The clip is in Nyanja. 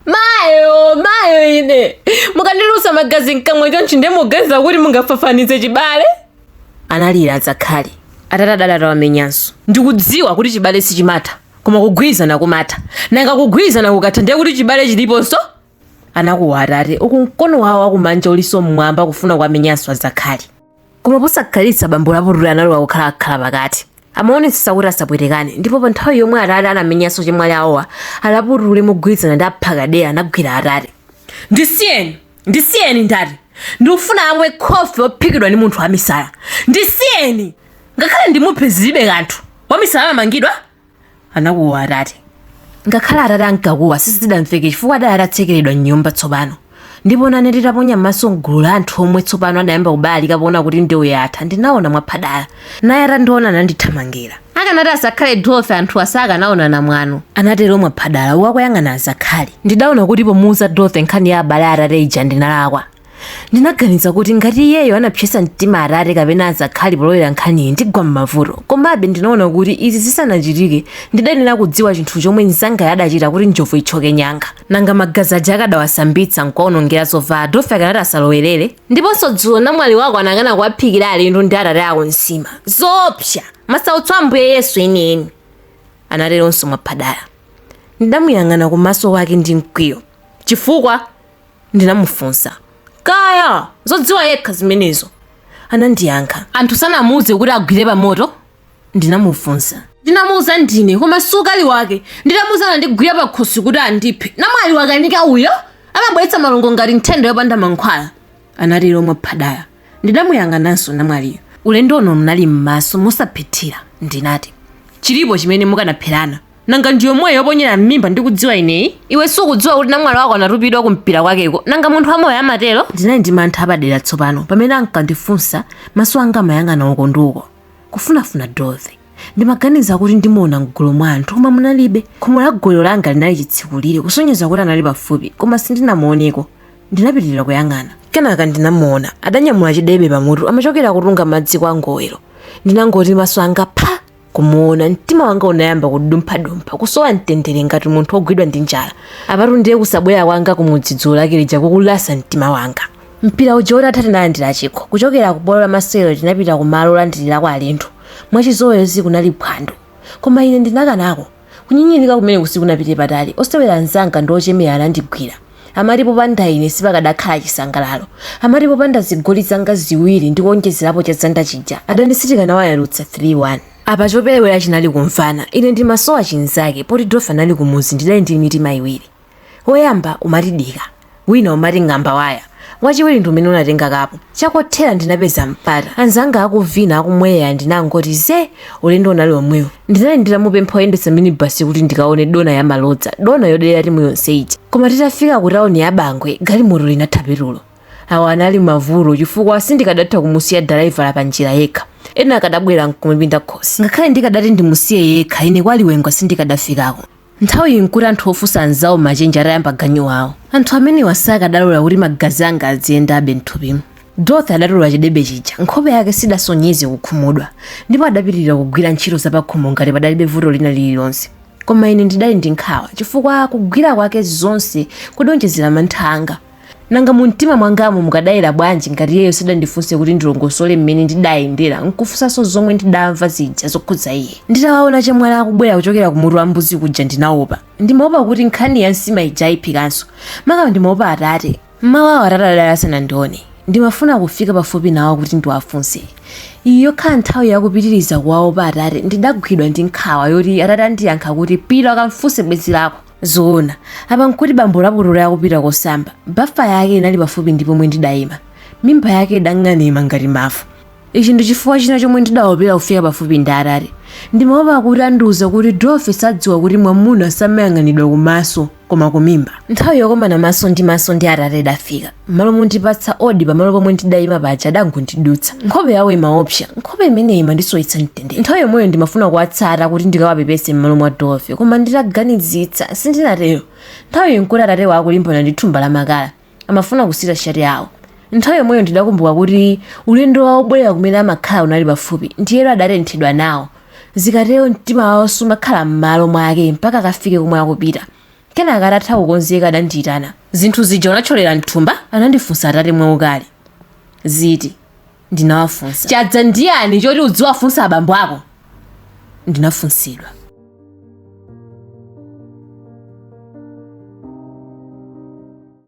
mayo mayo ine mukandilusa magazi mkamwa chonchi ndiye muganiza kuti mungafafanize chibale analira azakhali atate adali atawamenyanso ndikudziwa kuti chibale sichimatha koma kugwirizana kumatha nanga kugwirizana kukatha ndiye kuti chibale chiliponso anakuwa atate uku mkono wawo wakumanja ulinso mmwamba kufuna kuwamenyanso azakhali koma posakhalitsa bambo laputule analowa kukhala akhalapakati amaonetsetsa kuti asapwetekane ndipo pa nthawi yomwe atate anamenyanso chemwali awowa alaputule mogwirizana ndi aphakadera anagwira atate ndisiyeni ndisiyeni ndati ndikufuna amwe khofi wophikidwa ndi munthu wamisala ndisiyeni ngakhale ndimuphe zilibe kanthu wamisala amamangidwa anakuwa atate ngakhale atate ankakuwa sizidamveke chifukwa adali atatsekeredwa mnyumba tsopano ndipo nane nditaponya m'maso mgulu la anthu omwe tsopano adayamba kubalalika poona kuti ndewu yatha ndinaona mwaphadala naye atandiona anandithamangira akanati asakhale dorothy anthuwa sakanaonana mwano anatero mwaphadala akuyang'ana azakhali ndidaona kuti pomuuza dorothy nkhani ya abale atate ija ndinalakwa ndinaganiza kuti ngati iyeyo anapsesa mtima atate kapena azakhali polowera nkhaniyi ndigwa m'mavuto komabe ndinaona kuti izi zisanachitike ndidayenera kudziwa chinthu chomwe mzangayo adachita kuti njovu itchoke nyanga nanga magazi aja akadawasambitsa nkuwaonongera zovala dorothy akanati asalowerere ndiponso dzulo namwali wako anakana kuwaphikira alendo ndi atate ako nsima zoopsa masautso a ambuye yesu enieni anateronso mwaphadala ndidamuyang'ana kumaso kwake ndi mkwiyo chifukwa Ndinamufunsa, Kaya! Zodziwa yekha zimenezo! Anandiyankha. Anthu sanamuuze kuti agwire pamoto? Ndinamufunsa. Ndinamuuza ndine, koma si ukali wake. Nditamuuza anandigwira pakhosi kuti andiphe. Namwali wakanika uyo! Amabweretsa malungo ngati nthenda yopanda mankhwala! Anatero Mwaphadala. Ndinamuyang'ananso namwaliyo ulendo uno mnali mmaso mosaphethira ndinati, chilipo chimene mukanapherana? Nanga ndiyomweyi yoponyera mmimba ndikudziwa ineyi? Iwe sukudziwa kuti namwali wako anatupidwa ku mpira kwakeko? Nanga munthu wamoyo amatero? Ndinali ndi mantha apadera tsopano pamene ankandifunsa maso anga amayang'ana uko ndi uko kufunafuna Dorothy. Ndimaganiza kuti ndimuona mgulu mwa anthu koma munalibe. Khomo la gowelo langa linali chitsikulire kusonyeza kuti anali pafupi koma sindinamuoneko. ndinapitirira kuyang'ana kenaka ndinamuona adanyamula chidebe pamutu amachokera kutunga madzi kwa ngowero ndinangoti maso anga pha kumuona mtima wanga unayamba kudumphadumpha kusowa mtendere ngati munthu wogwidwa ndi njala apatu ndiye kusabwera kwanga kumudzi dzulo lake lija kukulasa mtima wanga mpira uja utatha tinalandira chikho kuchokera ku bwalo la masewero tinapita ku malo olandirirako alendo mwachizolowezi kunali phwando koma ine ndinakanako Kunyinyirika kumeneku sikunapite patali. Osewera anzanga ndi ochemera anandigwira. Amati popanda ine sipakadakhala chisangalalo. Amati popanda zigoli zanga ziwiri ndi kuonjezerapo cha Zanda chija, adani sitikanawayalutsa 3 1. Apa choperewera chinali kumvana. Ine ndimasowa chinzake, poti Dorothy anali kumudzi ndidali ndi mitima iwiri. Woyamba umati dika, wina umati ng'amba waya, wachiwiri ndi umene unatenga kapu. Chakothera ndinapeza mpata, anzanga akuvina, akumwa ndinangoti zee! Ulendo unali womwewo. Ndinali nditamupempha woyendetsa minibus kuti ndikaone dona ya malodza, dona yodelera timu yonse ija. Koma titafika ku tauni ya Bangwe, galimoto linatha petulo. Awa anali mavuto chifukwa sindikadatha kumusiya dalaivala panjira yekha. Ena akadabwera n'kumupinda khosi. Ngakhale ndikadati ndimusiye yekha, ine kwa Liwengwa sindikadafikako. Nthawiyi n'kuti anthu ofunsa anzawo machenje atayamba ganyu wawo. Anthu amenewa sakadalola kuti magazi anga adziyendabe m'thupimo. Dorothy adatola chidebe chija. Nkhope yake sidasonyeze kukhumudwa, ndipo adapitirira kugwira ntchito zapakhomo ngati padalibe vuto lina lililonse. Koma ine ndidali ndi nkhawa chifukwa kugwira kwake zonse kudaonjezera mantha anga. Nanga mumtima mwangamo mukadayera bwanji ngati iyeyo sadandifunse kuti ndilongosole mmene ndidayendera n'kufunsanso zomwe ndidamva zija zokhudza iye? Nditawaona achemwali akubwera kuchokera ku mutu wa mbuzi kuja ndinaopa. Ndimaopa kuti nkhani ya nsima ija aiphikanso. Maka ndimaopa atate. M'mawa uwo atate adali asanandione. Ndimafuna kufika pafupi nawo kuti ndiwafunse. Ikhala nthawi ya kupitiriza kuwaopa atate ndidagwidwa ndi nkhawa yoti atate andiyankha kuti, Pita akamfunse bwenzi lako. Zoona, apa n'kuti bambo Lapukeni akupita kosamba. Bafa yake inali pafupi ndi pomwe ndidaima. Mimba yake idang'anima ngati mafuta. Ichi ndi chifukwa china chomwe ndidaopera kufika pafupi ndi Atate. Ndimaopa kuti andiuza kuti Dorothy sadziwa kuti mwamuna samayang'anidwa kumaso, koma kumimba. Nthawi yokomana maso ndi maso ndi Atate idafika. mmalo mondipatsa odi pamalo pomwe ndidayima paja adangondidutsa nkhope yawo imaopsa nkhope imeneyi imandisowetsa mtendere nthawi yomweyo ndimafuna kuwatsata kuti ndikawapepese mmalo mwa dorothy koma nditaganizitsa sindinatero nthawi iyi nkuti atate akulimbana ndi thumba la makala amafuna kusita shati yawo nthawi yomweyo ndidakumbuka kuti ulendo wawo wobwerera kumene amakhala unali pafupi ndiye adatenthedwa nawo zikatero mtima wawo sumakhala mmalo mwake mpaka akafike komwe akupita Kenaka atatha kukonzeka adandiitana. Zinthu zija unathyolera m'thumba? Anandifunsa atate mwaukali. Ziti? Ndinawafunsa. Chadza ndi yani choti udziwafunsa abambo ako? Ndinafunsidwa.